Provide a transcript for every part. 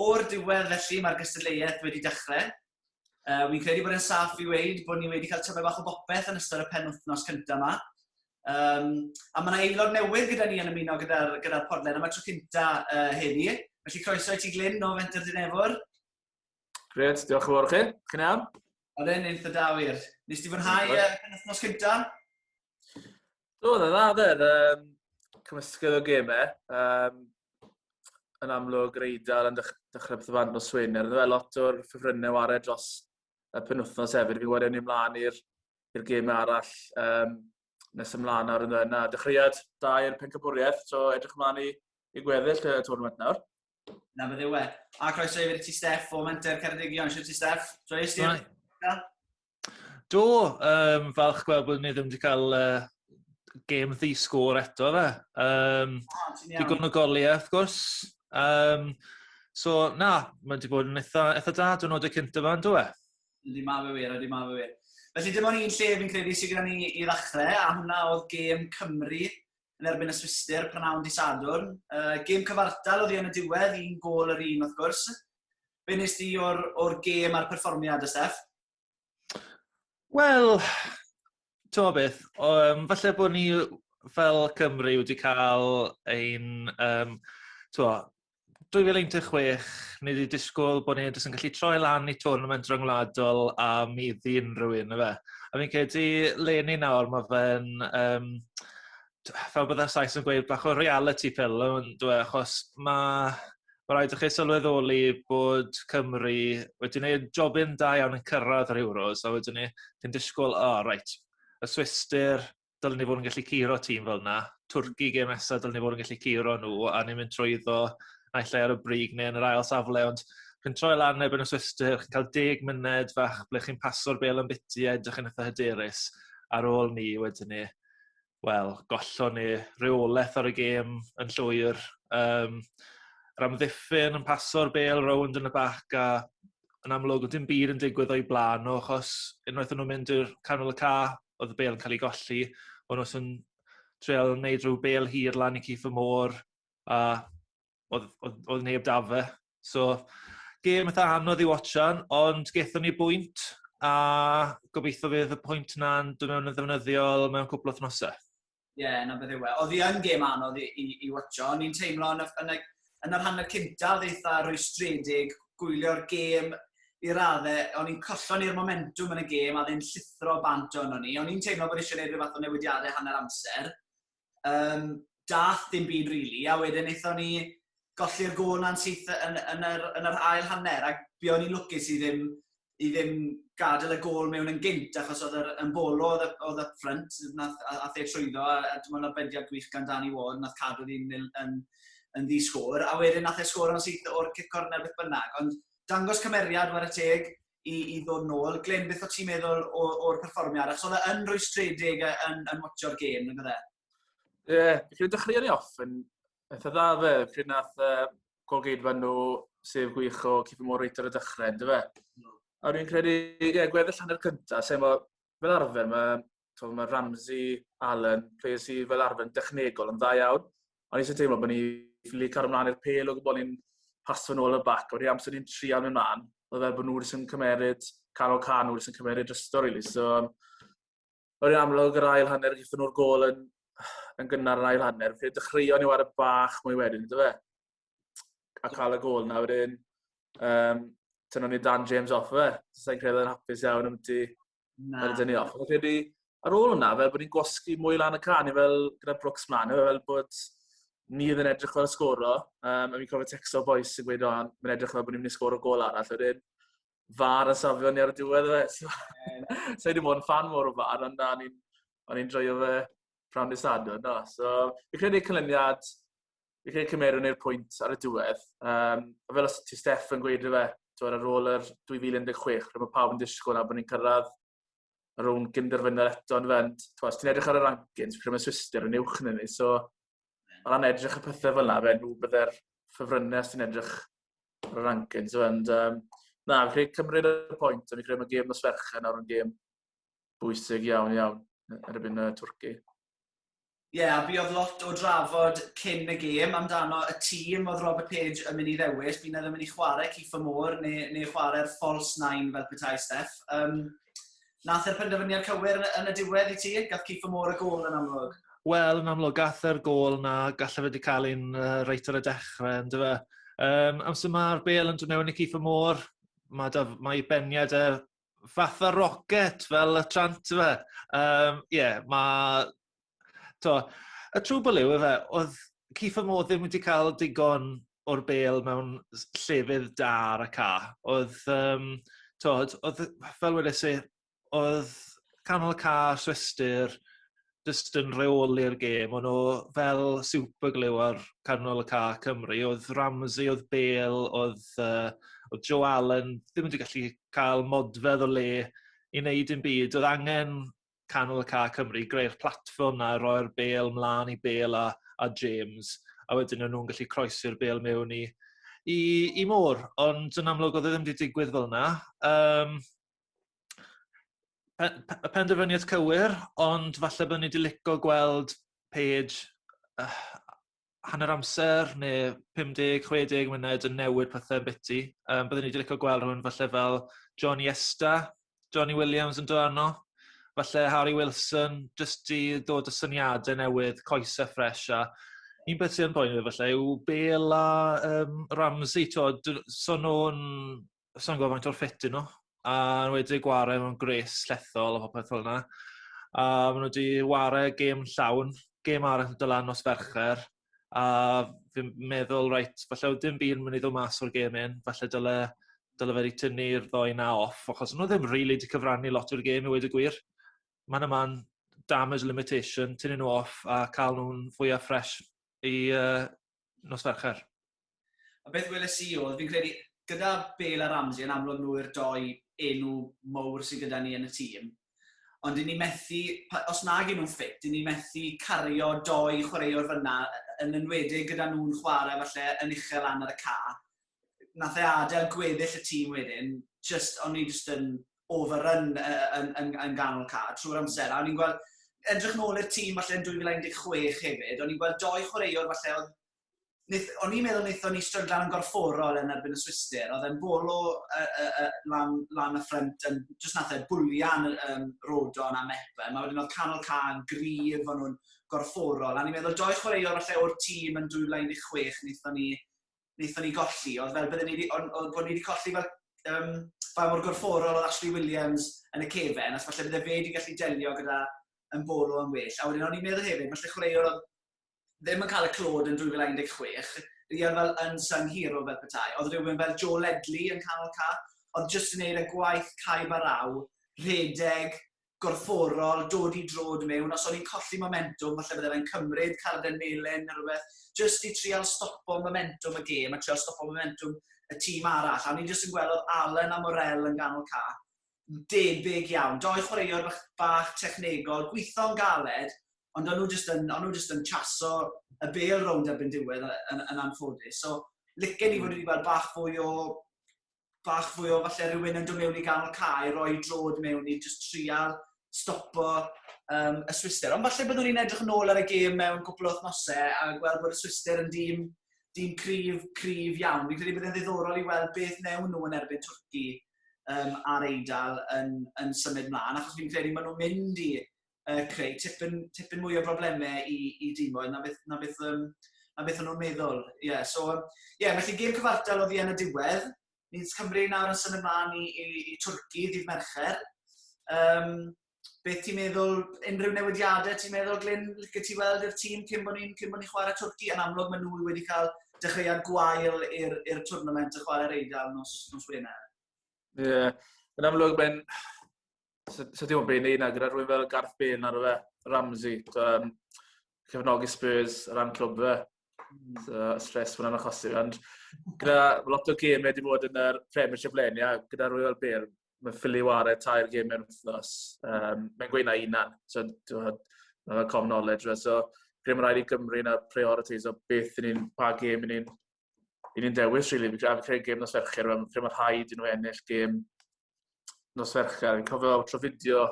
O'r diwedd felly mae'r gystadleuaeth wedi dechrau. Uh, Wi'n credu bod e'n saff i weid bod ni wedi cael tyfau bach o bopeth yn ystod y pen wythnos cyntaf yma. Um, a mae yna aelod newydd gyda ni yn ymuno gyda'r gyda, gyda podlen am y tro cynta uh, heddi. Felly croeso i ti Glyn o Fenter Dinefwr. Gret, diolch yn fawr chi. Chi'n iawn? Oedd e'n eitha da wir. Nes ti fwynhau y penwthnos cynta? Do, dda, dda, dda. Um, cymysgedd o gemau. Um, yn amlwg, yr Eidal yn dechrau beth o fan o swyn. Er fe lot o'r ffefrynnau wared dros y penwthnos hefyd. Fi wedi ni mlaen i'r gemau arall um, nes ymlaen ar yna. yna. Dechreuad da i'r pencabwriaeth, so edrych ymlaen i, i gweddill y tournament nawr. Na, beth yw e. A croeso i fi ti, Steff, o Menter Ceredigion. Siwr ti, Steff? Troes ti? Do, um, falch gweld bod ni ddim wedi cael uh, gêm ddi sgôr eto fe. Um, ah, digon o goliau, wrth gwrs. Um, so, na, mae wedi bod yn eitha, eitha da, dwi'n oed y cynt yma, yn dweud? Ydy ma fe wir, ydy ma fe wir. Felly dim ond un lle fi'n credu sydd gyda ni i ddechrau, a hwnna oedd gêm Cymru yn erbyn y Swister prynhawn di Sadwrn. Uh, gêm cyfartal oedd hi yn y diwedd, un gol yr un wrth gwrs. be nes di o'r, or gêm a'r perfformiad y Steff? Wel, ti'n beth, um, falle bod ni fel Cymru wedi cael ein... Um, twa, 2016, ni wedi disgwyl bod ni'n yn gallu troi lan i tournament rhyngwladol a mi ddi unrhyw un, efe. A fi'n credu, le ni nawr, mae fe'n... Um, fel bydde Sais yn gweud, bach o reality pill o yndw e, achos mae ma' raid i chi sylweddoli bod Cymru wedi gwneud jobyn da iawn yn cyrraedd yr Euros a wedyn ni, chi'n disgwyl, o reit, y Swistir, dylen ni fod yn gallu curo tîm fel yna, Twrci gêm nesaf, dylen ni fod yn gallu curo nhw a ni'n mynd trwy iddo naill ai ar y brig neu yn yr ail safle, ond chi'n troi lan erbyn y Swistir, chi'n cael deg myned fach ble chi'n paso'r bel yn biti a edrych yn eitha hyderus ar ôl ni wedyn ni wel, gollon ni reolaeth ar y gêm yn llwyr. Um, Ramddiffyn yn paso'r bel rownd yn y bac a yn amlwg oedd dim byd yn digwydd o'i blaen nhw achos unwaith o'n nhw'n mynd i'r canol y ca oedd y bel yn cael ei golli. O'n nhw'n treol yn neud rhyw bel hir lan i Keith y Môr a oedd, oedd, oedd neb da fe. So, gêm eitha anodd i watchan, ond gethon ni bwynt, a gobeithio fydd y pwynt na'n dod mewn yn ddefnyddiol mewn cwpl o thnosau. Ie, yeah, na beth yw e. Oedd hi yn gêm anodd i, i, i watcho, ond ni'n teimlo yn y, yn y, yn y rhan y cyntaf eitha rwystredig, gwylio'r gêm i raddau, o'n i'n collon i'r momentum yn y gêm a ddyn llithro bant o'n ni. O'n i'n teimlo bod eisiau gwneud rhywbeth o newidiadau hanner amser, um, dath dim byd rili, really, a wedyn eithon ni golli'r gol na'n syth yn, yn, yr, yn yr ail hanner, ac bu o'n i'n lwcus i ddim, i ddim gadael y gol mewn yn gynt, achos oedd yr ymbolo oedd, oedd up front, nath, a, a the trwyddo, a, a dwi'n meddwl bediad gwych gan Danny Ward, nath cadw ddim yn, yn, yn ddi sgôr, a wedyn nath e sgôr o'n syth o'r cic corner beth bynnag, ond dangos cymeriad war y teg, i, i ddod nôl. Glyn, beth o ti'n meddwl o'r perfformiad? Ac oedd e yn rwystredig yn, yn watcho'r gêm, yn fydde? Ie, yeah, dwi'n dechrau ni off yn eitha dda fe, pryd nath uh, golgeidfa nhw sef gwych o Ciffa Mor Reiter y dechrau, ynddo fe? No. A dwi'n credu, ie, yeah, gweddill hanner cyntaf, sef fel arfer, mae to, mae Ramsey, Allen, players sydd fel arfer yn dechnegol yn dda iawn. Ond eisiau teimlo bod ni ffili cario ymlaen i'r pel o gwybod ni'n pasio yn ôl y bac. O'r amser ni'n trial mynd mlaen, oedd fel bod nhw'n sy'n cymeryd canol can, nhw'n sy'n cymeryd drystor, really. So, um, o'r amlwg yr ail hanner, gyda nhw'r gol yn, yn gynnar yn ail hanner. Fe dechreuon ni wario bach mwy wedyn, ydw fe? A cael y gol na wedyn, um, tynnu ni Dan James off fe. Sa'n credu yn hapus iawn am ti Na. Rydyn ni off. Rydyn ar ôl hwnna, fel bod ni'n gwasgu mwy lan y can, fel gyda Brooks mlaen, fel bod ni oedd yn edrych fel sgoro, um, a fi'n cofio text o'r boys sy'n gweud, o'n, mae'n edrych fel bod ni'n mynd i sgoro gol arall, wedyn, far yn safio ni ar y diwedd fe. So, so wedi bod yn fan mor o far, ond o'n i'n joio fe prawn i sadwn. No. So, fi'n credu cynlyniad fi'n credu cymerwn i'r pwynt ar y diwedd. Um, fel os ti Steff yn gweud rhywbeth, twyd, ar ôl yr 2016, rhaid bod pawb yn disgwyl na bod ni'n cyrraedd y rhwng gynderfynol eto yn fend. Twyd, os ti'n edrych ar y rankings, pryd mae Swister yn uwch yn ni, so o ran edrych y pethau fel yna, fe nhw byddai'r ffefrynnau os ti'n edrych ar y rankings. Ond, um, na, fi'n credu cymryd y pwynt, a fi'n credu mae gêm nos ferchen nawr yn gêm bwysig iawn iawn erbyn y Twrci. Ie, yeah, a buodd lot o drafod cyn y gêm amdano y tîm oedd Robert Page yn mynd i ddewis. Bu'n edrych yn mynd i chwarae Kieffer Moore neu, neu chwarae'r false nine fel petai Steph. Um, nath e'r penderfyniad cywir yn y diwedd i ti? Gath Kieffer Moore y gol yn amlwg? Wel, yn amlwg, gath e'r gol na gallaf wedi cael un uh, reit ar y dechrau, yn dyfa. Um, amser mae'r bel yn dod mewn i Kieffer Moore, mae, da, mae beniad e fatha rocket fel y trant fe. Um, yeah, mae... To, y trwy bwlw yw efe, oedd Keith Mo ddim wedi cael digon o'r bel mewn llefydd da ar y ca. Oedd, um, to, oedd fel wedi si, oedd canol y ca, swestyr, jyst yn reoli'r gêm. O'n nhw fel super glue ar canol y ca Cymru. Oedd Ramsey, oedd Bale, oedd, uh, oedd Joe Allen ddim wedi gallu cael modfedd o le i wneud yn byd. Oedd angen canol y ca Cymru, greu'r platfform na, roi'r Bale mlaen i Bale a, a James. A wedyn o'n nhw'n gallu croesi'r Bale mewn i, i, i môr. Ond yn amlwg oedd e ddim wedi digwydd fel yna. Um, pe- pe- y penderfyniad cywir, ond falle bod ni wedi licio gweld page uh, hanner amser neu 50, 60 munud yn newid pethau yn biti. Um, byddwn ni wedi licio gweld rhywun falle fel John Iesta, Johnny Williams yn dod arno, falle Harry Wilson, jyst i ddod y syniadau newydd, coesau ffres a un beth sy'n boen fi falle yw Bela um, Ramsey, so nhw'n sa'n gwybod faint o'r ffit nhw. A yn wedi gwario mewn gres llethol a popeth fel yna. A maen nhw wedi wario gêm llawn, gêm arall yn dylan nos fercher. A fi'n meddwl, reit, falle oedd dim byd yn mynd i ddod mas o'r gêm un. Falle dyle, dyle fe wedi tynnu'r ddoi na off, achos nhw ddim rili really wedi cyfrannu lot o'r gêm i wedi gwir. Mae'n yma'n damage limitation, tynnu nhw off a cael nhw'n fwyaf ffres i uh, nos Fercher. A beth weles i oedd, fi'n credu, gyda Bale a Ramsey yn amlwg nhw yw'r doi enw mowr sydd gyda ni yn y tîm. Ond i ni methu, os nag nhw'n ffit, i ni methu cario doi chwaraewr fyna, yn enwedig gyda nhw'n chwarae falle yn uchel lan ar y ca. nath e adael gweddill y tîm wedyn, jyst, o'n i jyst yn overrun yn, yn, yn ganol car trwy'r amser. A o'n i'n gweld, edrych nôl i'r tîm falle yn 2016 hefyd, o'n i'n gweld doi chwaraewr falle oedd o'n i'n meddwl wnaethon ni stryglan yn gorfforol yn erbyn y Swister. Oedd e'n bolo uh, uh, uh, lan, lan y ffrant, yn, jyst nath e bwlian um, Rodon a Mepa. Mae wedyn oedd canol can, grif, o'n nhw'n gorfforol. A ni'n meddwl, doi chwaraewr falle o'r tîm yn 2016, wnaethon ni wnaethon ni golli, oedd fel bydden ni wedi, ond oedd bod ni wedi colli fel um, ba mor gorfforol oedd Ashley Williams yn y cefen, os falle bydde fe wedi gallu delio gyda yn bolo yn well. A wedyn o'n i'n meddwl hefyd, falle chwaraewr oedd ddim yn cael y clod yn 2016, rhian fel yn sung hero fel petai. Oedd rhywun fel Joe Ledley yn canol ca, oedd jyst yn neud y gwaith caib a raw, rhedeg, gorfforol, dod i droed mewn, os o'n i'n colli momentwm, falle bydde fe'n cymryd carden melyn neu rhywbeth, jyst i trial stopo momentwm y gêm a trial stopo momentwm y tîm arall. A o'n i jyst yn gweld oedd Allan a Morel yn ganol cap, debyg iawn, doi chwaraewr bach, bach technegol, gweithio'n galed, ond o'n nhw jyst yn, o'n nhw jyst yn chaso y bel rownd erbyn diwedd yn, yn, yn anffodus. So, licen i fod wedi gweld bach fwy o bach fwy o falle rhywun yn dod mewn i ganol cae, roi drod mewn i just trial stopo um, y Swister. Ond falle byddwn ni'n edrych yn ôl ar y gêm mewn cwpl o wythnosau a gweld bod y Swister yn dîm, dîm cryf, cryf iawn. Fi'n credu bod yn ddiddorol i weld beth newn nhw yn erbyn Twrci um, ar Eidal yn, yn symud mlaen, achos fi'n credu maen nhw'n mynd i uh, creu tipyn, tipyn mwy o broblemau i, i dimoedd na beth, na beth, um, na beth o'n nhw'n meddwl. Ie, yeah, so, ie, yeah, felly gêm cyfartal oedd i yn y diwedd. Ni'n Cymru nawr yn symud mlaen i, i, i Twrci, ddydd Mercher. Um, beth ti'n meddwl, unrhyw newidiadau ti'n meddwl, Glyn, lle ti weld i'r tîm cyn bod ni'n cyn bod ni'n chwarae Twrci? Yn amlwg mae nhw wedi cael dechreuad gwael i'r twrnament y chwarae'r Eidal nos, nos Wener. Ie, yeah. yn amlwg mae'n so, so dim ond beth i wneud na gyda rhywun fel Garth Bale na rhywbeth, Ramsey, um, cefnogi Spurs ar ran clwb fe. Hmm. So, stres fwyna'n achosi. Ond gyda lot o gemau wedi bod yn yr Premiership leni, a gyda rhywun fel Bale, mae ffili wario tair gêm mewn wythnos. Um, mae'n gweud na unan, so mae'n common knowledge. So, rhaid mae'n rhaid i Gymru na priorities o beth yn un, pa gêm yn un i ni'n dewis, rili. Really. Fi'n credu gêm nos Fercher, mae'n credu mae rhaid i nhw ennill gêm nos Fercher. Fi'n cofio tro fideo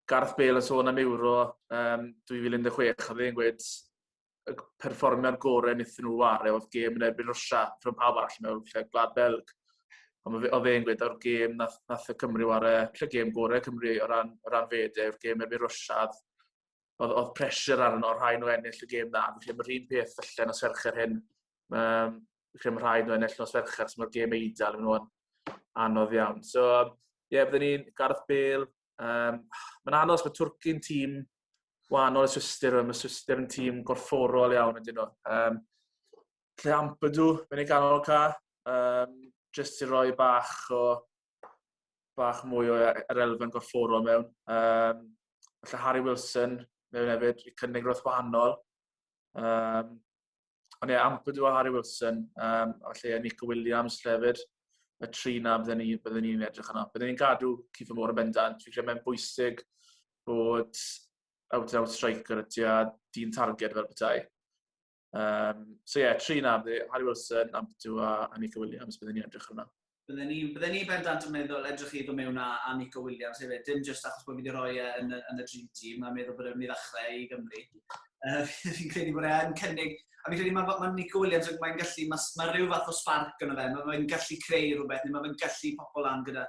Gareth Bale yn sôn am Euro um, 2016, oedd e'n gweud y perfformiad gorau wnaethon nhw wario oedd gêm yn erbyn Rwysia, rhwng pawb arall mewn lle Gwlad Belg. Ond oedd e'n gweud o'r gêm nath, nath y Cymru wario, lle gêm gorau Cymru o ran, o ran fede, yw'r gêm erbyn Rwysia, oedd, oedd pressure arno rhai nhw ennill y gêm dda. Fi'n credu mae'r un peth felly nos fercher hyn. Um, fi'n credu mae rhai nhw ennill nos fercher, so mae'r gêm eidl yn nhw'n anodd iawn. So, ie, yeah, byddwn ni'n Gareth Bale. Um, mae'n anodd os mae Twrci'n tîm wahanol y Swister, mae Swister yn tîm gorfforol iawn ydyn nhw. Um, lle Ampadu, mae'n ei ganol ca, um, jyst i roi bach o bach mwy o e- yr elfen gorfforol mewn. Um, Felly Harry Wilson mewn hefyd i cynnig roedd wahanol. Um, ond ie, yeah, ampyd o Harry Wilson, um, felly Nico Williams hefyd, y tri na byddwn ni'n bydde ni edrych yna. Byddwn ni'n gadw Cifo Môr yn bendant. Fi'n credu mae'n bwysig bod out-out striker y tua dyn targed fel bethau. Um, so ie, yeah, tri na, Harry Wilson, Amptu a, a Nico Williams, byddwn ni'n edrych arno. Byddwn ni, bydde ni bendant yn meddwl edrych i ddod mewn a, a Nico Williams hefyd, dim jyst achos bod fi wedi rhoi e yn, yn y dream team, mae'n meddwl bod e'n mynd i ddechrau i Gymru. Uh, fi'n credu bod e'n cynnig, a fi'n credu mae ma Nico Williams yn mae'n gallu, mae ma rhyw fath o spark yn y fe, mae'n gallu creu rhywbeth, neu mae'n gallu pobl lan gyda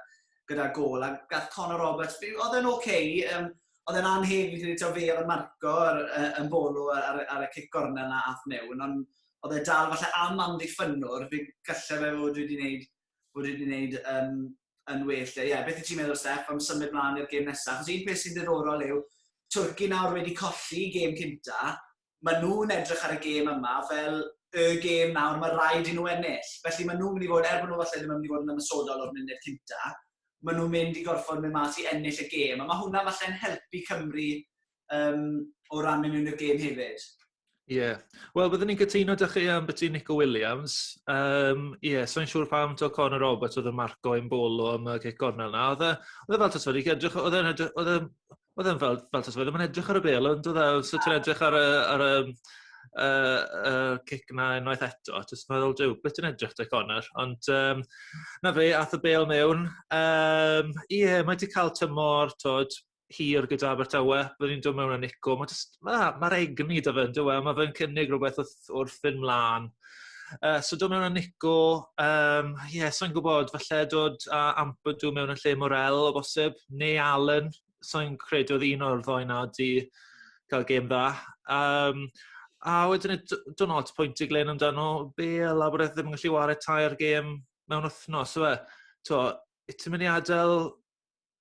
gyda gôl, a gath Connor Roberts, oedd e'n ok, um, oedd e'n anheg fi'n credu, fe oedd y marco ar, yn bolo ar, ar y cic gorna yna ath mewn, ond oedd e dal falle am amddiffynwr, fe gallai fe fod wedi gwneud, fod wedi gwneud um, yn well. Ie, yeah, beth i ti'n meddwl, Steph, am symud mlaen i'r gêm nesaf? Chos un peth sy'n ddiddorol yw, Twrci nawr wedi colli gêm cynta, maen nhw'n edrych ar y gêm yma fel y gêm nawr mae rhaid i nhw ennill. Felly maen nhw'n mynd i fod, er bod nhw falle ddim yn mynd i fod yn ymwysodol o'r munud cynta, maen nhw'n mynd i gorfod mynd mas i ennill y gêm. A mae hwnna falle'n helpu Cymru um, o ran mynd mewn i'r gêm hefyd. Ie. Yeah. Wel, byddwn ni'n cytuno da chi am beth Nico Williams. Ie, um, yeah, so'n siŵr pam to Conor Roberts oedd yn marco yn bolo am y cic gornel na. Oedd e, oedd e fel tasod i edrych, oedd e'n edrych, oedd e, Oedd e'n fel fel tase fe ddim yn edrych ar y bêl on'd odd e fel sa ti'n edrych ar y ar y yym yy y cic 'na unwaith eto jyst meddwl Duw be' ti'n edrych te Conor ond yym 'na fe ath y bêl mewn yym ie mae 'di ca'l tymor t'wod hir gyda Abertawe byddwn ni'n do' mewn a nico ma' jyst ma' ma'r egni 'da fe on'd yw e ma' fe'n cynnig rwbeth w'th gwaith wrth fynd mlaen. Uh, so dod mewn â Nico, um, yeah, so'n gwybod, falle dod a Ampadu mewn y lle Morel o bosib, neu Allen, so'n credu oedd un o'r ddoi na di cael gêm dda. Um, a wedyn, dwi'n ots pwynt i Glenn amdano, Bel a bod e ddim yn gallu wario tair gêm mewn wythnos, yw e? To, ti'n mynd i adael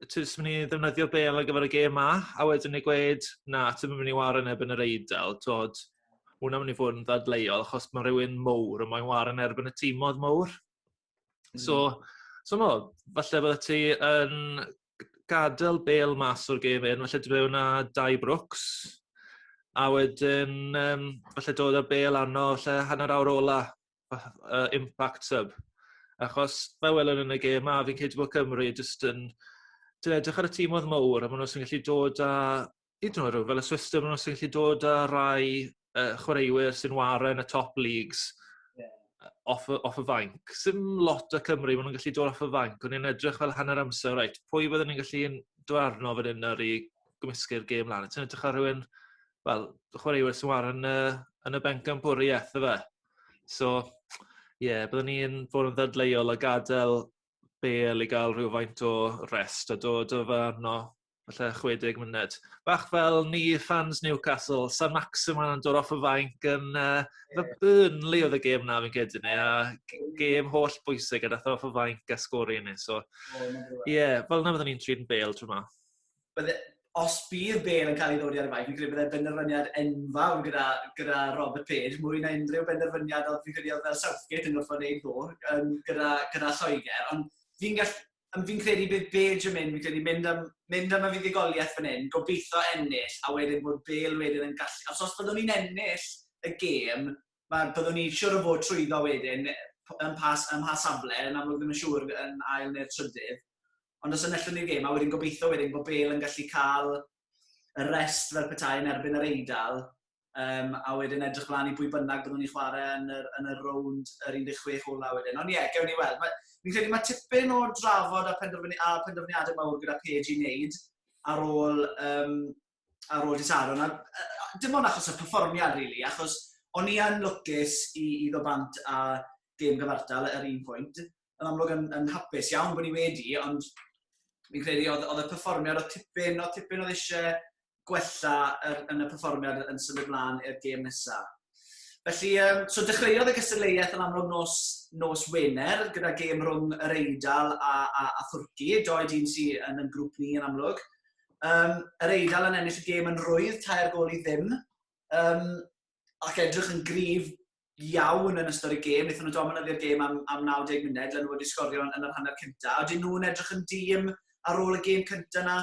ti jyst mynd i ddefnyddio bel ar gyfer y gêm 'ma, a wedyn i gweud, na, ti'n mynd i wario neb yn yr eidl, tod, hwnna'n mynd i fod yn ddadleuol, achos mae rhywun mowr yn moyn wario yn erbyn y tîmodd mowr. Mm. So, so no, falle bydde ti yn gadael bel mas o'r gêm hyn, falle dwi wna dau Brooks, a wedyn, um, falle dod â bel arno, falle hanner awr ola, fath o impact sub achos fel welwn yn y gêm 'ma fi'n credu bod Cymru jyst yn ti'n edrych ar y tîm oedd mowr a maen nhw'n gallu dod â hyd yn oed rhyw fel y Swisdom maen nhw'n gallu dod â rai uh, chwaraewyr sy'n waren y top leagues yeah. off, off y fanc. Sym lot o Cymru maen nhw'n gallu dod off y fanc, ond ni'n edrych fel hanner amser, reit, pwy byddwn ni'n gallu dod arno fan hyn ar i gymysgu'r gêm lan. Ti'n edrych ar rhywun, fel, chwaraewyr sy'n waren yn y, yn y benc am bwriaeth, efe? So ie byddwn ni'n fod yn ddadleuol a gadel bêl i ga'l rhywfaint o rest a dod o fano falle chwe deg munud. Bach fel ni ffans Newcastle, San Maximin yn dod off y fainc yn yy ma' Burnley odd y gêm 'na fi'n credu ne' a g- gêm holl bwysig a dath e off y fainc a sgori ni so ie fel 'na fyddwn ni'n trin bêl tro 'ma. bydde, os bydd Bale yn cael ei ddodi ar y faith, fi'n credu bydde'n benderfyniad enfawr gyda, gyda Robert Page, mwy na unrhyw benderfyniad oedd fi'n credu oedd fel Southgate yn gorfod wneud ddo, um, gyda, gyda Lloegr, ond fi'n gall, fi'n credu bydd Page yn mynd, fi'n credu mynd am, mynd am y fuddugoliaeth fan hyn, gobeithio ennill, a wedyn bod Bale wedyn yn gallu, os, os byddwn ni'n ennill y gêm, mae byddwn ni siwr o fod trwyddo wedyn yn pas, yn pas safle, yn amlwg ddim yn siŵr yn ail neu'r trydydd, ond os enillwn ni gêm, a wedyn gobeithio wedyn bod Bale yn gallu cael y rest fel petai yn erbyn yr Eidal, um, a wedyn edrych mlaen i bwy bynnag byddwn ni'n chwarae yn yr, yn yr rownd yr 16 ola wedyn. Ond ie, yeah, gewn ni weld. Mae, fi'n credu mae tipyn o drafod a, penderfyni, a penderfyniadau mawr gyda Page i wneud ar ôl, um, ar ôl Disaron. A, dim ond achos y perfformiad, rili, really, achos o'n i yn lwcus i, i ddo bant a gêm gyfartal ar un pwynt, yn amlwg yn, yn hapus iawn bod ni wedi, ond fi'n credu oedd, oedd y perfformiad, oedd tipyn, oedd tipyn oedd eisiau gwella er, yn y perfformiad yn symud mlaen i'r gêm nesaf. Felly, um, so dechreuodd y gystadleuaeth yn amlwg nos, nos Wener gyda gêm rhwng yr Eidal a, a, a Thwrci, doi dyn sydd yn yn grŵp ni yn amlwg. Um, yr Eidal yn ennill y gêm yn rwydd, tair gol i ddim, um, ac edrych yn grif iawn yn ystod y gêm. Wnaethon nhw dominyddu'r gêm am, am 90 munud, le nhw wedi sgorio yn, yn yr hanner cyntaf. Oedden nhw'n edrych yn dîm ar ôl y gêm cyntaf yna.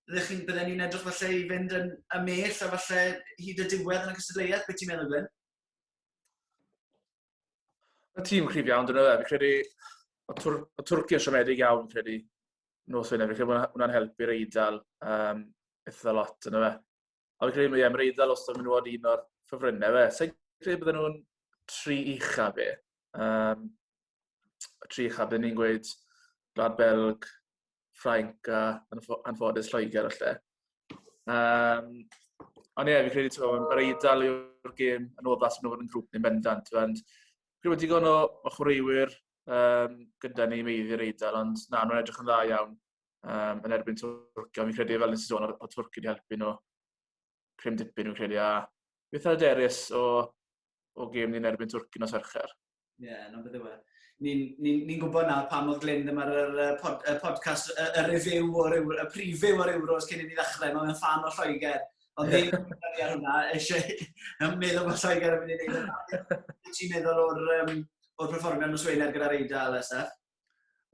Bydden ni'n edrych falle i fynd yn ymell a falle hyd y diwedd yn y cystadleuaeth. Beth ti'n meddwl, Gwyn? Mae tîm cryf iawn, dyn nhw. Fi'n credu, o Twr Twrci yn siomedig iawn, fi'n credu, nos hynny. Fi'n credu bod hwnna'n helpu'r eidl um, eitha lot, dyn nhw. Ond credu mae mae'r Eidal os ydym nhw'n un o'r ffefrynnau fe. Sa'n credu bydden nhw'n tri ucha fe. Um, tri ucha bydden ni'n gweud Gwlad Belg, Ffrainc a anffodus Lloegr o lle. Um, ond ie, yeah, fi credu ti'n meddwl, mae'r Eidal yw'r gêm yn oddach sy'n o'r yn grŵp ni'n bendant. Ond credu bod digon o, o chwaraewyr um, gyda ni meiddi'r Eidal, ond na, nhw'n edrych yn dda iawn. um, yn erbyn Twrcio. Fi'n credu fel nes i sôn o, o Twrcio wedi helpu nhw prim dipyn fi'n credu. A beth ar y derys o, o gêm ni'n erbyn Twrcio nos Fercher? Ie, yeah, na beth yw e. Ni'n ni, ni gwybod nawr pa mor glyn dyma'r uh, pod, uh, podcast, y uh, review o'r euro, y preview o'r Euros cyn i ni ddechrau, mae'n fan o Lloegr. Ond ddim yn gwneud ar hwnna, eisiau meddwl bod Lloegr yn mynd i wneud hwnna. Ti'n meddwl o'r, um, o'r perfformiad nos Wener gyda'r Eidal, SF?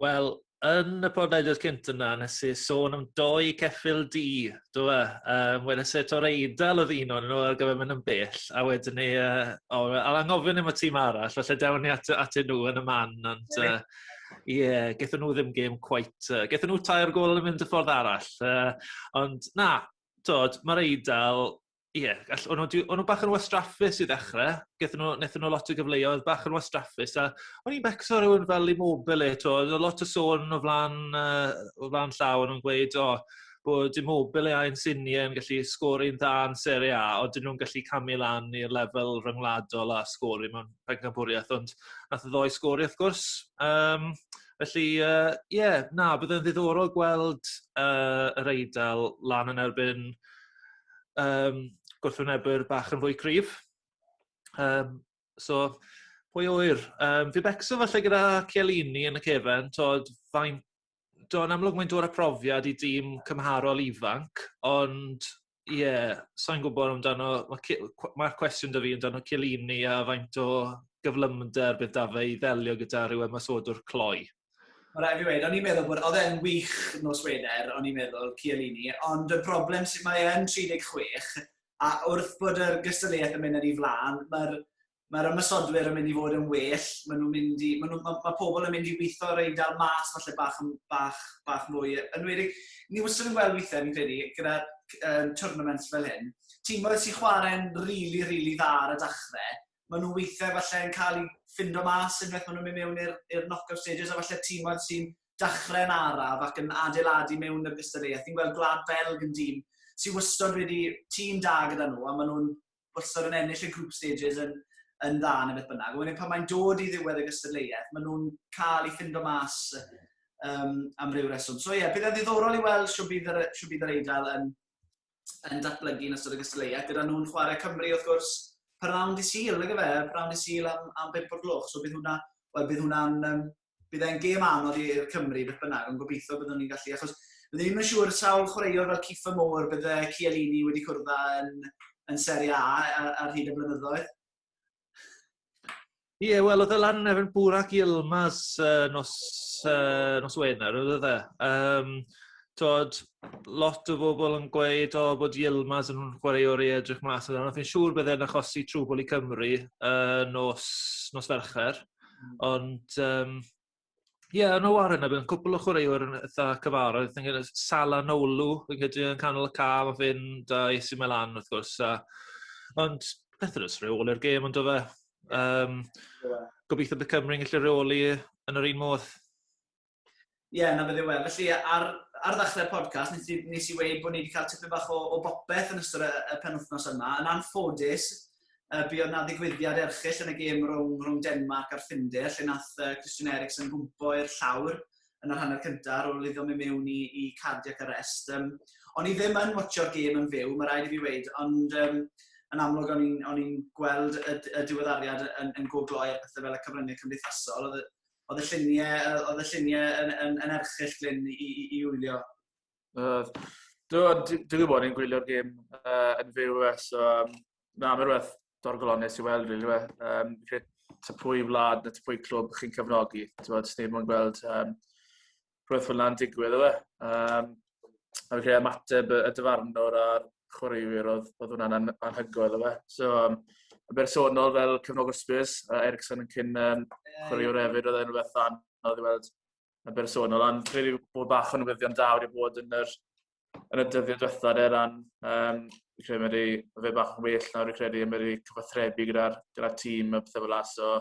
Wel, yn y podlediad cynt yna, nes i sôn am doi ceffil di, do e? Um, Weles e to'r eidl oedd un o'n nhw ar gyfer mynd yn bell, a wedyn ni, uh, o, al angofyn am y tîm arall, felly dewn ni at, at nhw yn y man, ond ie, uh, yeah, gethon nhw ddim gêm cwait, uh, gethon nhw tair gol yn mynd y ffordd arall, uh, ond na, dod, mae'r eidl, Ie, yeah, all, o'n nhw bach yn wastraffus i ddechrau. Gethon nhw, nethon nhw lot o gyfleoedd bach yn wastraffus. A o'n i'n becso rhywun fel immobile eto. Oedd lot o sôn o flan, uh, o flan llaw o'n nhw'n gweud, o, oh, bod immobile a'n siniau yn gallu sgori'n dda yn Serie A, ond dyn nhw'n gallu camu lan i'r lefel ryngwladol a sgori mewn pencampwriaeth, ond nath y ddoi sgori, wrth gwrs. Um, felly, ie, uh, yeah, na, bydd yn ddiddorol gweld uh, yr Eidal lan yn erbyn yym gwrthwynebwyr bach yn fwy cryf. Yym so pwy a ŵyr? Yym fi becso falle gyda Chiellini yn y cefn t'od fain- t'o' yn amlwg mae'n dod â profiad i dîm cymharol ifanc ond ie sai'n gwbod amdano ma' ci- cw- ma'r cwestiwn 'da fi amdano Chiellini a faint o gyflymder bydd 'da fe i ddelio gyda ryw ymosodwr cloi. Mae'n rhaid fi wneud, o'n i'n meddwl bod, oedd e'n wych nos Wener, o'n i'n meddwl, Cialini, ond y broblem sydd mae e'n 36, a wrth bod yr gystadleuaeth yn mynd yn ei flaen, mae'r mae ymwysodwyr yn mynd i fod yn well, maen nhw'n mynd i, maen nhw, mae, mae pobl yn mynd i weithio ar ein dal mas falle bach, bach, bach mwy, yn wedi, ni wastad yn gweld weithiau, fi'n credu, gyda um, tournaments fel hyn, tîm oedd sy'n chwarae'n rili, really, rili really dda ar y dachrau, maen nhw weithiau falle yn cael eu ffindo mas unwaith maen nhw'n mynd mewn i'r knock-up stages a falle tîmoedd sy'n dachrau yn araf ac yn adeiladu mewn i'r gystadleuaeth. Fi'n gweld Gwlad Belg yn dîm sy'n wastod wedi tîm da gyda nhw a maen nhw'n wastad yn ennill y group stages yn, yn dda neu beth bynnag. Wedyn pan mae'n dod i ddiwedd y gystadleuaeth, maen nhw'n cael ei ffindo mas um, am ryw reswm. So ie, yeah, bydd e'n ddiddorol i weld siw bydd yr, siw bydd yr Eidal yn, yn datblygu yn ystod y gystadleuaeth, gyda nhw'n chwarae Cymru wrth gwrs, parawn di Sil, nag efe, parawn di Sil am, am 5 o'r gloch, so bydd hwnna, wel, bydd hwnna'n, um, bydd e'n gêm anodd i'r Cymru beth bynnag, ond gobeithio byddwn ni'n gallu, achos byddwn ni'n siŵr sawl chwaraewr fel Cifa Mowr bydde Cialini wedi cwrdd yn, yn Serie A ar, ar hyd y blynyddoedd. Ie, yeah, wel, oedd y lan efo'n bwr ac i Ylmas uh, nos, uh, nos Wener, oedd e? Um, tod, lot o bobl yn gweud o oh, bod Ylmas yn chwarae o'r ei edrych mas. Ond fi'n siŵr byddai'n achosi trwbl i Cymru uh, nos, nos fercher. Mm. Ond um, Ie, yeah, no ar yna, bydd cwpl o chwaraewyr yn eitha cyfarwydd. Dwi'n gwneud Sala Nolu, fi'n credu yn canol y ca, mae fe'n da AC Milan, wrth gwrs. A... Ond, beth ydw's rhyw ôl i'r gêm, ond o fe. Um, gobeithio bydd Cymru'n gallu reoli yn yr un modd. Ie, yeah, na bydde we. Felly, ar, ar ddechrau'r podcast, nes i, nes i weid bod ni wedi cael tipyn bach o, o bopeth yn ystod y, y penwthnos yma. Yn anffodus, Yy buodd 'na ddigwyddiad erchyll yn y gêm rhwng rhwng Denmarc a'r Ffindir lle nath yy Christian Eriksen gwmpo i'r llawr yn yr hanner cynta' ar ôl iddo mynd mewn i i cardiac arrest. Yym o'n i ddim yn watsio'r gêm yn fyw, ma' raid i fi weud, ond yym yn amlwg o'n i'n o'n i'n gweld y y diweddariad yn yn go gloi a pethe fel y cyfrynge cymdeithasol. O'dd y o'dd y llunie yy o'dd y llunie yn yn yn erchyll Glyn i i i wylio. Uh, Dwi'n gwybod yn gwylio'r gêm uh, yn fyw e, so um, na, mae'n rhywbeth dorgolonus i weld, rili. Really, um, credu ta pwy wlad na ta pwy clwb chi'n cefnogi. Ti'n gwybod, sy'n ddim yn gweld um, rhywbeth fel yna'n digwydd, efe. Um, a fi'n credu ymateb y dyfarnwr a'r chwaraewyr oedd, oedd hwnna'n an, anhygoel, efe. So, um, y bersonol fel cefnogwr Spurs, uh, Ericsson yn cyn um, chwaraewr hefyd, oedd e'n rhywbeth anodd i weld yn bersonol, ond dwi'n credu bod bach o newyddion da wedi bod yn yr, yn y dyddiau diwethaf er ran, um, dwi'n credu wedi fe bach yn well nawr, dwi'n credu wedi cyfathrebu gyda'r gyda tîm a pethau fel as, so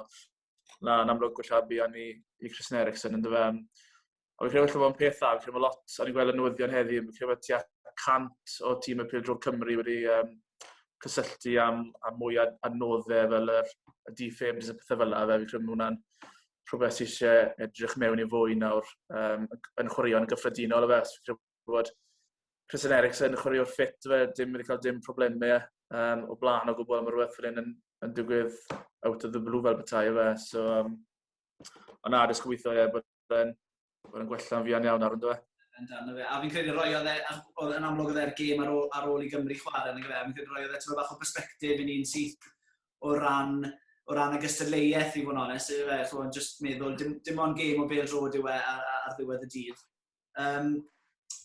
na, yn amlwg gwella bu o'n i i Christian Eriksen yn dyfa. Ond dwi'n credu bod yn peth dda, dwi'n credu bod lot, o'n i'n gweld y newyddion heddi, dwi'n credu bod tua 100 o tîm y Pildro Cymru wedi um, cysylltu am, am mwy a, a nodde fel yr, y defibs a pethau fel yna, fe fi'n credu bod hwnna'n rhywbeth sydd eisiau edrych mewn i fwy nawr um, yn chwaraeon gyffredinol efe. Os fi'n bod Christian Eriksen yn chwaraeo'r ffit fe, dim wedi cael dim problemau um, o blaen o gwbl am rhywbeth fel hyn yn, yn digwydd out of the blue fel bethau efe. So, um, ond na, dysg gweithio ie, bod yn Oedd yn gwella'n fuan iawn ar ynddo fe? Yn dan o fe. A fi'n credu roi oedd e, oedd yn amlwg oedd e'r gêm ar ôl, ar ôl i Gymru chwarae yn y gyfer. Fi'n credu roi oedd e tyfa bach o perspektif i ni'n syth o ran, o ran y gystadleuaeth i fod yn onest. Yw e, chwarae, just meddwl, dim, dim ond gêm o bel drod yw e ar, ar, ar ddiwedd y dydd. Um,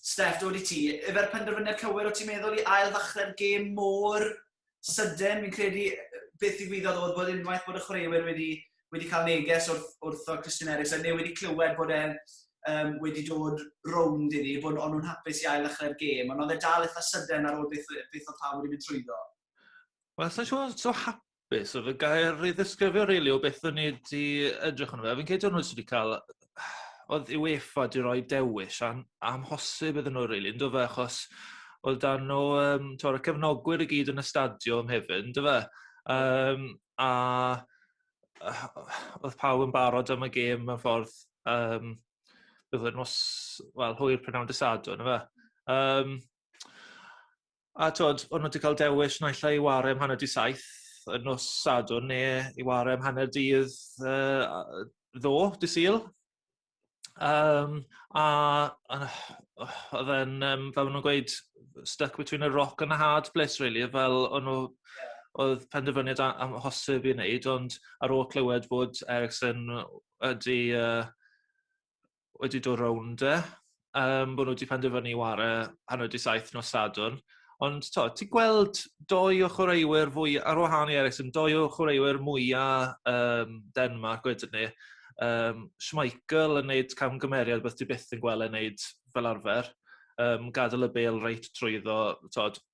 Steph, dod i ti. Efer penderfyniad cywir o ti'n meddwl i ail ddechrau'r gêm mor sydyn, fi'n credu beth ddigwyddodd oedd bod unwaith bod y chwaraewyr wedi, wedi cael neges wrth, wrth o Christian Eriksen, neu wedi clywed bod e'n um, wedi dod rownd iddi, bod o'n nhw'n hapus i ail ddechrau'r gêm, ond oedd e dal eitha sydyn ar ôl beth, beth oedd pawb wedi mynd trwyddo. Wel, sa'n siŵr so hapus oedd y gair i ddisgrifio rili really, o beth o'n i wedi edrych yn fe. Fi'n credu o'n nhw wedi cael oedd yw UEFA wedi rhoi dewis am, amhosib iddyn nhw rili, really, ynddo fe, achos oedd dan nhw, um, tyw'r cefnogwyr i gyd yn y stadiwm hefyd, ynddo fe. Um, a oedd pawb yn barod am y gêm mewn ffordd, um, bydd yn nos, wel, hwyr prynhawn dysadwn, ynddo fe. Um, A t'od, o'n nhw 'di cael dewis naill ai i ware am hanner 'di saith y nos Sadwrn ne' i ware am hanner dydd yy a- yy ddoe, dy' Sul. Yym a a o'dd e'n yym fel ma' nw'n gweud stuck between a rock and a hard place rili yy fel o'n nw... Ie. ...o'dd penderfyniad a- amhosib i neud ond ar ôl clywed bod Eriksen w- wedi yy wedi dod rownd e, um, bod nhw wedi penderfynu i ware hanner di saith nos sadwn. Ond to, ti'n gweld doi o chwaraewyr fwy, ar wahan i Ericsson, doi o chwaraewyr mwyaf um, Denmark wedyn ni. Um, Schmeichel yn neud camgymeriad beth ti byth yn gweld yn neud fel arfer. Um, gadael y bel reit trwyddo, tod,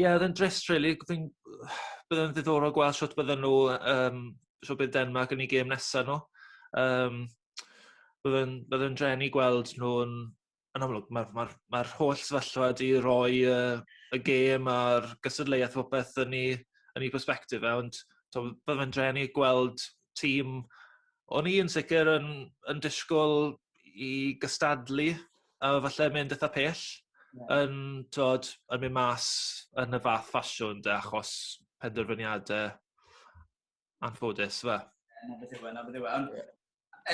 Ie oedd e'n drist rili fi'n bydd e'n ddiddorol gweld shwt bydden nhw yym shwt bydd Denmark yn 'u gêm nesa n'w. Yym bydd e'n bydd e'n drueni gweld nhw'n yn amlwg ma'r ma'r ma'r holl sefyllfa 'di roi yy y gêm a'r gystadleuaeth popeth yn 'u yn 'u persbectif e ond t'o' bydd e'n drueni gweld tîm o'n i yn sicir yn yn disgwl i gystadlu a falle mynd itha pell yn t'od yn myn' mas yn y fath ffasiwn 'de achos penderfyniade anffodus yfe? Ie 'na beth yw e 'na beth yw e ond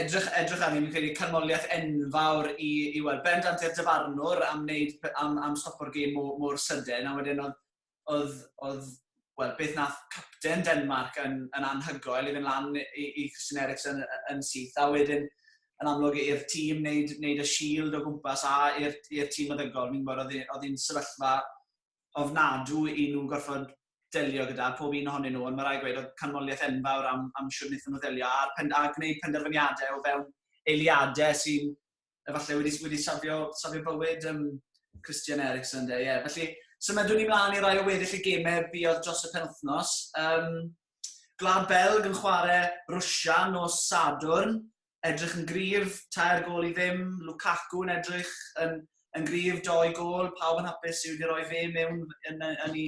edrych edrych arni fi'n credu canmoliaeth enfawr i i wel bendant i'r dyfarnwr am wneud pe- am am stopo'r gêm mo- mor sydyn a wedyn odd oedd, oedd, wel, beth nath capten Denmark yn, yn anhygoel i fynd lan i, i Christian Eriksen yn, yn syth, a wedyn yn amlwg i'r tîm wneud, wneud y shield o gwmpas a i'r, i'r tîm meddygol, fi'n gwybod oedd hi'n sefyllfa ofnadw i nhw gorfod delio gyda pob un ohonyn nhw, ond mae rai gweud oedd canmoliaeth enfawr am, am siwr wnaethon nhw ddelio a'r pen, a gwneud penderfyniadau o fewn eiliadau sy'n efallai wedi, wedi safio, safio bywyd um, Christian Eriksen. Ie, yeah. felly symudwn ni mlaen i rai o weddill y gemau buodd dros y penwthnos. Um, Glad Belg yn chwarae Rwysia nos Sadwrn, edrych yn grif, tair gol i ddim, Lukaku yn edrych yn, yn grif, doi gol, pawb yn hapus i wedi rhoi fe mewn yn, yn, yn,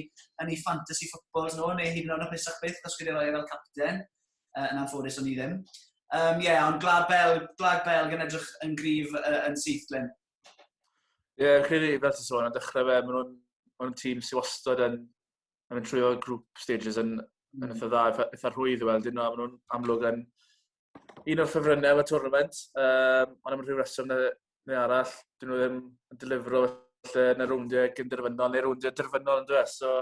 yn ei fantasy footballs nhw, neu hyd yn oed hapusach byth os wedi rhoi e fel capten. uh, yn anffodus o'n i ddim. Um, ie, yeah, ond Glad Belg, Glad Belg yn edrych yn grif uh, yn syth, Glyn. Ie, yeah, credu, fel ti'n sôn, yn dechrau fe, maen nhw'n ma nhw tîm sy'n wastad yn, yn mynd trwy o grŵp stages yn, mm. yn eitha dda, eitha rhwydd i weld, un o'n nhw'n amlwg yn un o'r ffefrynnau y tournament, um, ond am rhyw reswm na neu arall, dyn nhw ddim yn delifro falle yn y rowndiau gyn derfynol, neu rowndiau derfynol yn dweud. So,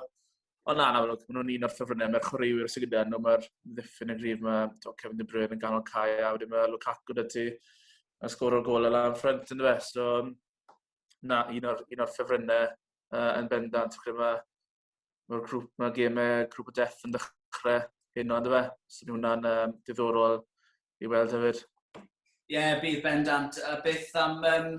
ond na, na, maen nhw'n un o'r ffefrynnau. Mae'r chwaraewyr sy'n gyda nhw, mae'r ddiffyn yn gryf, mae to, Kevin De Bruyne yn ganol cae, a wedyn mae Lukaku da ti, a sgwr o'r gol lan ffrant yn dweud. So, na, un o'r, un o'r ffefrynnau uh, yn bendant. Mae mae'r grŵp, mae gemau grŵp y deff yn dechrau hyn ond fe. So mae hwnna'n um, diddorol i weld hefyd. Ie, yeah, bydd bendant. A beth am... Um,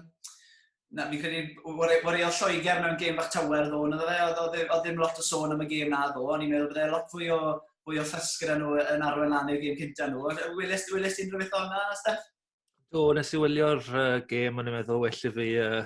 na, fi'n credu, wario Lloegr mewn gêm bach tawer ddo, na dde, oedd e, ddim lot o sôn am y gêm na ddo, ond i'n meddwl bod e lot fwy o, fwy o ffysg gyda nhw yn arwain lan i'r gêm cyntaf nhw. Welest ti'n rhywbeth o'na, Steph? Do, nes i wylio'r uh, gêm, o'n i'n meddwl, well i fi, uh,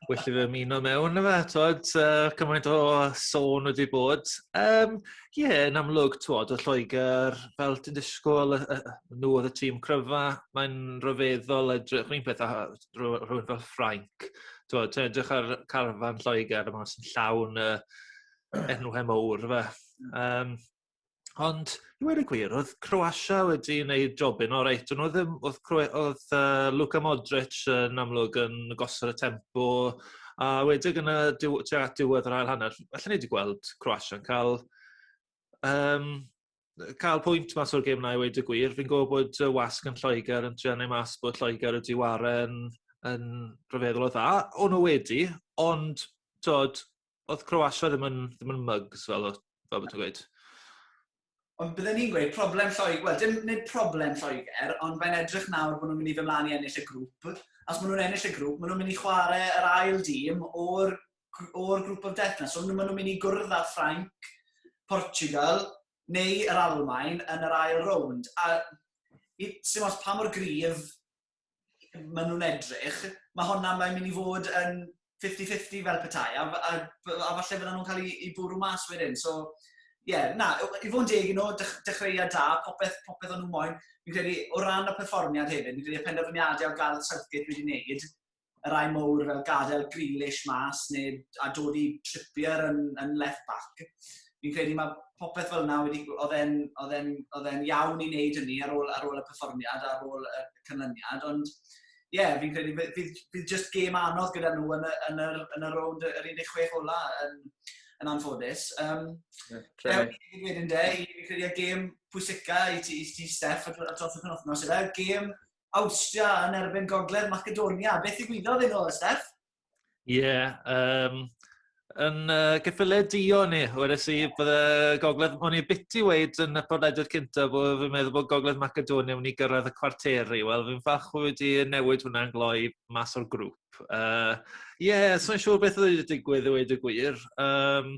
well i fi ymuno mewn yma, twod, uh, cymaint o sôn wedi bod. Ie, Um, yeah, yn amlwg, twod, o Lloegr, fel ti'n disgwyl, uh, uh, nhw oedd y tîm cryfa, mae'n rhyfeddol edrych, rhywun peth a rhywun fel Ffrainc, twod, ti'n edrych ar carfan Lloegr, yma sy'n llawn uh, enwau mowr, fe. Um, Ond i weud y gwir o'dd Croatia wedi neud jobyn oreit do'n nw ddim o'dd Croa- o'dd yy Luka Modric yn amlwg yn gosod y tempo a wedig yn y diw- tua at diwedd yr ail hanner allen ni 'di gweld Croatia'n ca'l yym yy ca'l pwynt mas o'r gêm 'na i weud y gwir fi'n gwel' bod y wasg yn Lloeger yn trio neu' mas bod Lloeger wedi waren yn rhyfeddol o dda. O'n nw wedi ond t'od oedd Croatia ddim yn, ddim yn mugs fel, fel bod ti'n gweud? Ond byddwn ni'n gweud problem Lloegr, wel dim nid problem Lloegr, ond mae'n edrych nawr bod nhw'n mynd i fy mlaen i ennill y grŵp. Os maen nhw'n ennill y grŵp, maen nhw'n mynd i chwarae yr ail dîm o'r, or grŵp of death na. So maen nhw'n mynd i gwrdd â Ffrainc, Portugal, neu yr Almain yn yr ail rownd. A sy'n os pa mor gryf maen nhw'n edrych, mae honna mae'n mynd i fod yn 50-50 fel petai, a, a, a falle fydden nhw'n cael ei, bwrw mas wedyn. So, ie, yeah, na, i fod yn deg i nhw, dechreuad da, popeth, popeth o'n nhw moyn. Fi'n credu, o ran y perfformiad hefyd, fi'n credu y penderfyniadau o Gareth Southgate wedi wneud, y rai mowr fel gadael Grealish mas neu a dod i Trippier yn, yn left back. Fi'n credu mae popeth fel yna wedi, oedd e'n oedd e'n oedd e'n iawn i wneud hynny ar ôl ar ôl y perfformiad ar ôl y canlyniad ond ie yeah, fi'n credu bydd bydd, bydd just gêm anodd gyda nhw yn y yn yr yn y rownd yr 16 ola yn yn anffodus. Um, yeah, Ewn i wedyn de, fi'n credu y gêm pwysica i ti, i ti Steff, dros y penwthnos yna, gêm Awstria yn erbyn Gogledd Macedonia. Beth i gwyddo ddyn nhw, Steff? Ie, yeah, um, yn uh, gyffiliau dio ni, wedys i, bydde Gogledd, o'n i biti weid yn y podlediad cynta bod fi'n meddwl bod Gogledd Macedonia yn i gyrraedd y cwarteri. Wel, fi'n ffach wedi newid hwnna'n gloi mas o'r grŵp. Ie, uh, yeah, so'n siŵr beth oedd wedi digwydd i weid y gwir. Um,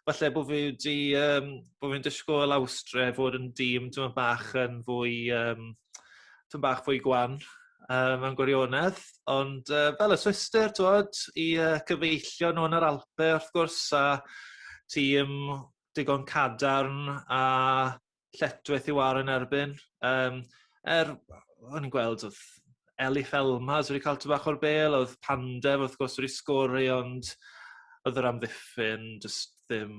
falle bod fi wedi, um, bod fi'n dysgol Awstre fod yn dîm dyma bach yn fwy um, tym bach fwy gwan yy mewn gwirionedd ond yy fel y Swistir t'wod i yy cyfeillion nw yn yr Alpe wrth gwrs a tîm digon cadarn a lletchwith i war yn erbyn yym er o'n i'n gweld odd Elif Elmas wedi ca'l tym bach o'r bel odd Pandev wrth gwrs wedi sgori ond odd yr amddiffyn jyst ddim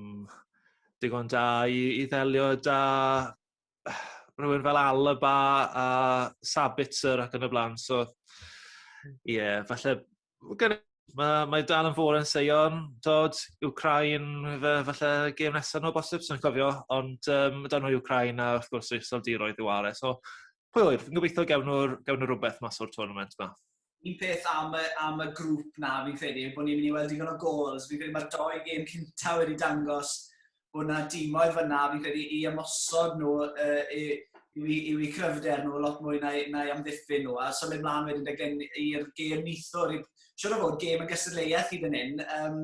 digon da i i ddelio 'da rhywun fel Alaba a Sabitzer ac yn y bla'n so hmm. ie yeah, falle gyda Mae, mae dal yn fôr yn seion, dod, Ukrain, fe, falle gêm nesaf nhw bosib, sy'n cofio, ond um, dan nhw Ukrain a wrth gwrs eich soldiroedd i ware. So, pwy oedd, yn gobeithio gewn nhw'r gewn nhw rhywbeth mas o'r tournament yma. un peth am y, am y grŵp na fi'n credu bod ni'n mynd i weld digon o gols. Fi'n credu mae'r doi gêm cynta wedi dangos bod yna dimoedd fyna fi'n credu i ymosod nhw uh, i, yw i, yw i cryfder nhw lot mwy na, na i amddiffyn nhw. A symud mlaen wedyn dy gen i'r gêm nithwr, siwr o fod gêm yn gystadleuaeth i fan hyn. Um,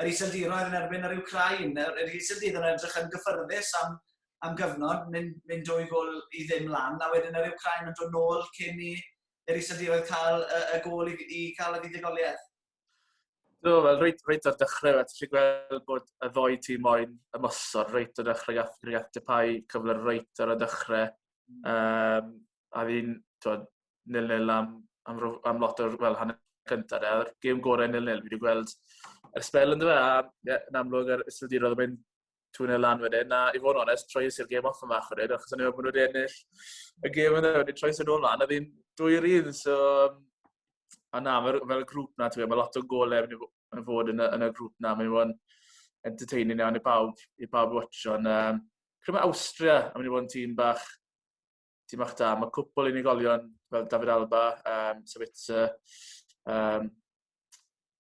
yr iseldiroedd yn erbyn yr Ukrain, yr iseldydd yn edrych yn gyffyrddus am, am gyfnod, mynd, mynd dwy gol i ddim lan, a wedyn yr Ukrain yn dod nôl cyn i yr iseldiroedd cael y, y gol i, i cael y fuddugoliaeth? Do, wel, reit, reit o'r dechrau, a ti'n gweld bod y ddoi tîm moyn ymosod reit o'r dechrau gath Rhiat Depau cyfle reit o'r dechrau. Um, a fi'n, twyd, nil-nil am, am, am lot o'r, wel, hanner cyntaf, e, a'r gêm gorau nil-nil, fi wedi gweld yr spel yn dweud, a ie, yn amlwg yr iseldirodd yn mynd tŵn e lan wedyn. Na, i fod yn onest, troes i'r gêm off yn fach wedyn, achos o'n i'n meddwl bod nhw wedi ennill y gêm yna, wedi troes yn ôl lan, oedd hi'n dwy yr un, so... A na, fel, fel y grŵp na, mae lot o golau yn y fod yn y, yn y grŵp na, mae'n fod yn entertaining iawn i bawb, i bawb watcho. Ond, um, Cymru Austria, a mynd i fod yn tîm bach tîm bach da. Mae cwpl unigolion fel David Alba, um, Sabitzer, um,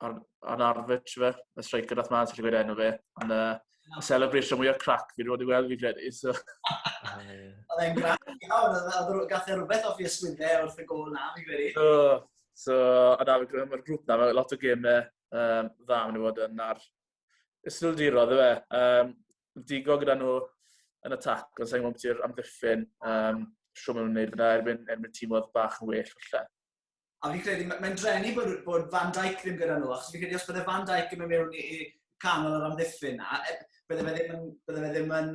Arn Arfitch fe, y striker nath ma'n sylwi enw fe, ond uh, y celebration mwyaf crac fi wedi weld fi credu. So. Oedd e'n grac iawn, oedd gath e rhywbeth off i yswydde wrth y gol na, fi credu. So, so a da, mae'r grŵp na, mae lot o gemau um, dda maen nhw fod yn ar ystrildiro, dde fe. Um, digo gyda nhw yn y tac, ond sa'n gwybod ti'r amddiffyn, um, siw maen nhw'n gwneud fyna erbyn, erbyn tîm oedd bach yn well falle. A fi'n credu, mae'n drenu bod, bod Van Dijk ddim gyda nhw, achos fi'n credu os bydde Van Dijk yn mynd mewn i canol yr amddiffyn na, e, bydde fe ddim yn, bydde fe ddim yn,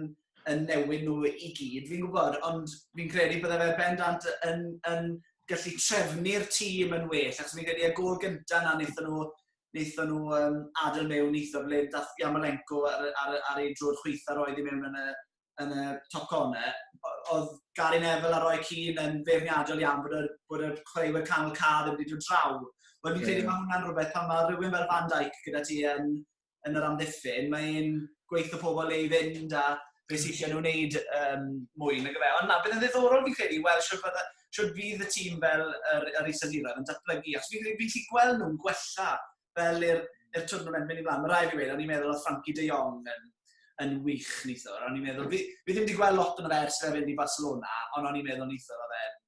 yn newid nhw i gyd, fi'n gwybod, ond fi'n credu bydde fe bendant yn, yn gallu trefnu'r tîm yn well, achos fi'n credu y gol gyntaf na wnaethon nhw wnaethon nhw um, adael mewn eitha ble dath Yamalenko ar, ar, ar ei drwy'r chweitha roedd i mewn yn y, yn y top corner. Oedd Gary Neville a Roy Keane yn feirniadol iawn bod y, bod y chwaraewyr canol ca ddim wedi dod draw. Wel, fi'n credu mae hwnna'n rhywbeth pan mae rhywun fel Van Dijk gyda ti yn, yn yr amddiffyn, mae'n gweithio pobl ei fynd a beth sy'n eisiau nhw wneud um, mwy nag efe. Ond na, bydd yn ddiddorol fi'n credu, wel, siwr bydde, Sut fydd y tîm fel yr, yr Iseldiroedd yn datblygu? Achos fi'n fi gallu gweld nhw'n gwella fel i'r er twrnament mynd i blaen. Mae rai fi wedi, o'n i'n meddwl oedd Frankie de Jong yn, yn wych nithwr. O'n i'n meddwl, fi, fi ddim wedi gweld lot yn yr ers fe fynd i Barcelona, ond o'n i'n meddwl nithwr oedd e'n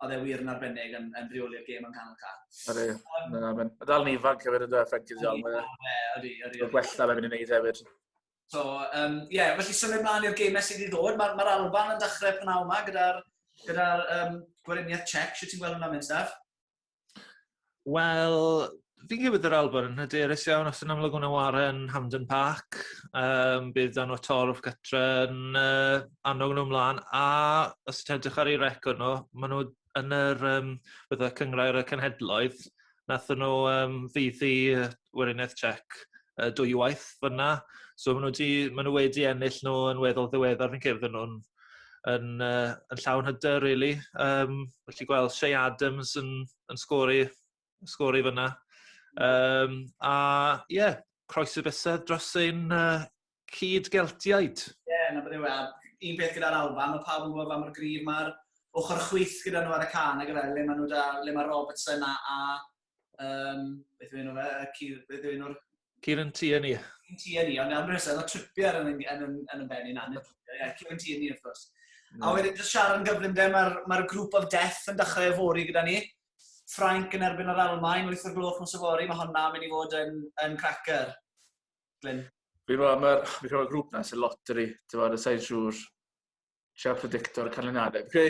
oedd e wir yn arbennig yn, yn rheoli'r gêm yn canol car. Ydy, um, na, mae'n dal yn ifanc hefyd yn dweud Frankie de Jong. Ydy, ydy. Mae'n gwella fe fynd i wneud hefyd. So, um, yeah, felly symud mlaen i'r geimau sydd i ddod. Mae'r ma Alban yn dechrau pnawn yma gyda'r gyda, um, gweriniaeth Czech. Siwt ti'n gweld hwnna mynd, Steph? Wel, fi'n gwybod yr Alban yn hyderus iawn os yn amlwg hwnna ware yn Hamden Park. Um, bydd dan o'r torf gytra yn uh, annog nhw ymlaen. A os ti'n edrych ar ei record nhw, maen nhw yn yr yym fatha cynghrair y cenhedloedd nathon nw yym ddeuddu yy Weriniaeth Tsiec yy dwywaith fyn 'na so ma' nw 'di ma' nw wedi ennill nw yn weddol ddiweddar fi'n credu fydden nw'n yn yy yn llawn hyder rili yym felly gweld Che Adams yn yn sgori sgôr i fyna. Um, a ie, yeah, croeso bysedd dros ein uh, cyd geltiaid. Ie, yeah, na bydde wel. Un peth gyda'r Alban, mae pawb yn gwybod am yr grif mae'r ochr chwyth gyda nhw ar y can, ac efe, le mae nhw da, le mae Robertson a, a um, beth yw'n nhw fe, beth yw'n nhw'r... Kieran Tierney. Kieran Tierney, ond am rhywbeth, oedd o tripiau yn, yn, yn, yn, yn benni na, yeah, Kieran Tierney, of course. A wedyn, just siarad yn gyflym de, mae'r ma grŵp of death yn dechrau efori gyda ni. Ffrainc yn erbyn yr Almaen, wyth o'r gloch nos yfory, mae honna yn mynd i fod yn, yn cracker. Glyn. Fi fo, mae'r fi cael y grŵp na sy'n loteri, ti'n fawr, y sain siŵr, siar predictor y canlyniadau. Fe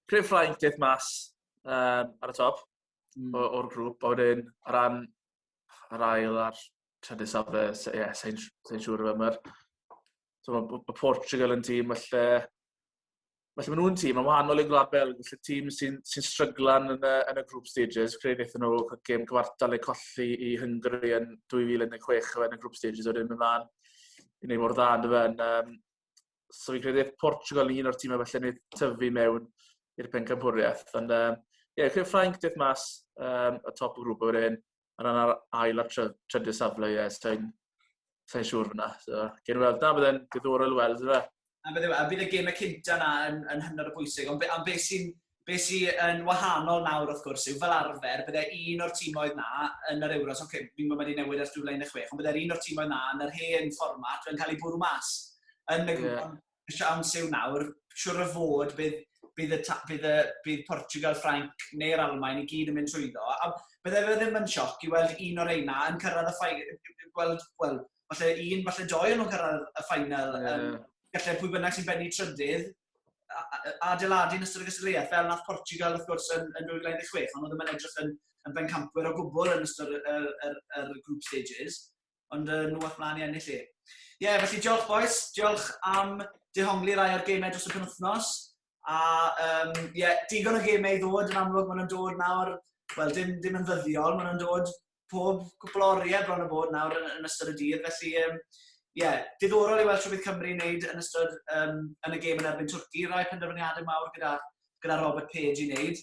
creu Ffrainc deth mas um, ar y top mm. o'r grŵp, a wedyn ar ran yr ail a'r trydydd safle, ie, yeah, sain siŵr o fe, mae'r so, mae Portugal yn tîm felly, felly maen nhw'n tîm yn wahanol i'r Gwlad Belg, felly tîm sy'n sy stryglan yn y, yn y group stages, creu wnaethon nhw gêm cyfartal eu colli i Hungary yn 2016 yn y group stages o'r un ymlaen i wneud mor dda yn y fe'n. Um, so fi'n credu Portugal yn un o'r tîmau felly wneud tyfu mewn i'r pencampwriaeth. Ond um, ie, yeah, Ffrainc deth mas um, y top o grŵp o'r un. a rhan ar ail a trydydd safle, ie, so i'n sa'n siŵr fyna. So, gen weld na, byddai'n diddorol i weld, fe. A bydd, a bydd y gemau cynta yna yn, yn hynod o bwysig, ond be, am beth sy'n be sy yn wahanol nawr wrth gwrs yw fel arfer, bydde un o'r tîmoedd na yn yr Euros, oce, okay, fi'n gwybod wedi newid ar 16, ond bydde'r un o'r tîmoedd na yn yr hen fformat yn cael ei bwrw mas yn y grŵp. Yeah. y siawns yw nawr, siwr o fod bydd, bydd, y, bydd, y, bydd Portugal, Ffrainc neu'r Almain i gyd yn mynd trwyddo. A bydde fe ddim yn sioc i weld un o'r eina yn cyrraedd y ffainal, gweld, wel, falle un, falle doi yn nhw'n cyrraedd y ffainal. Yeah. Um, gallai pwy bynnag sy'n benni trydydd adeiladu yn ystod y gystadleuaeth, fel nath Portugal wrth gwrs yn, yn 2016, ond oedd yn edrych yn, yn bencampwyr o gwbl yn ystod y, y, y, y group stages. ond uh, nhw all mlaen i ennill i. Ie, yeah, felly diolch boes, diolch am dehongli rai o'r gemau dros y penwthnos. A um, yeah, digon o gemau i ddod, yn amlwg maen nhw'n dod nawr, wel dim, dim yn ddyddiol, maen nhw'n dod pob cwpl o oriau bron o bod nawr yn, yn ystod y dydd. Felly, um, yeah, diddorol i weld Rhywbeth Cymru yn wneud yn ystod um, yn y gêm yn erbyn Twrci. Rai penderfyniadau mawr gyda, gyda Robert Page i wneud.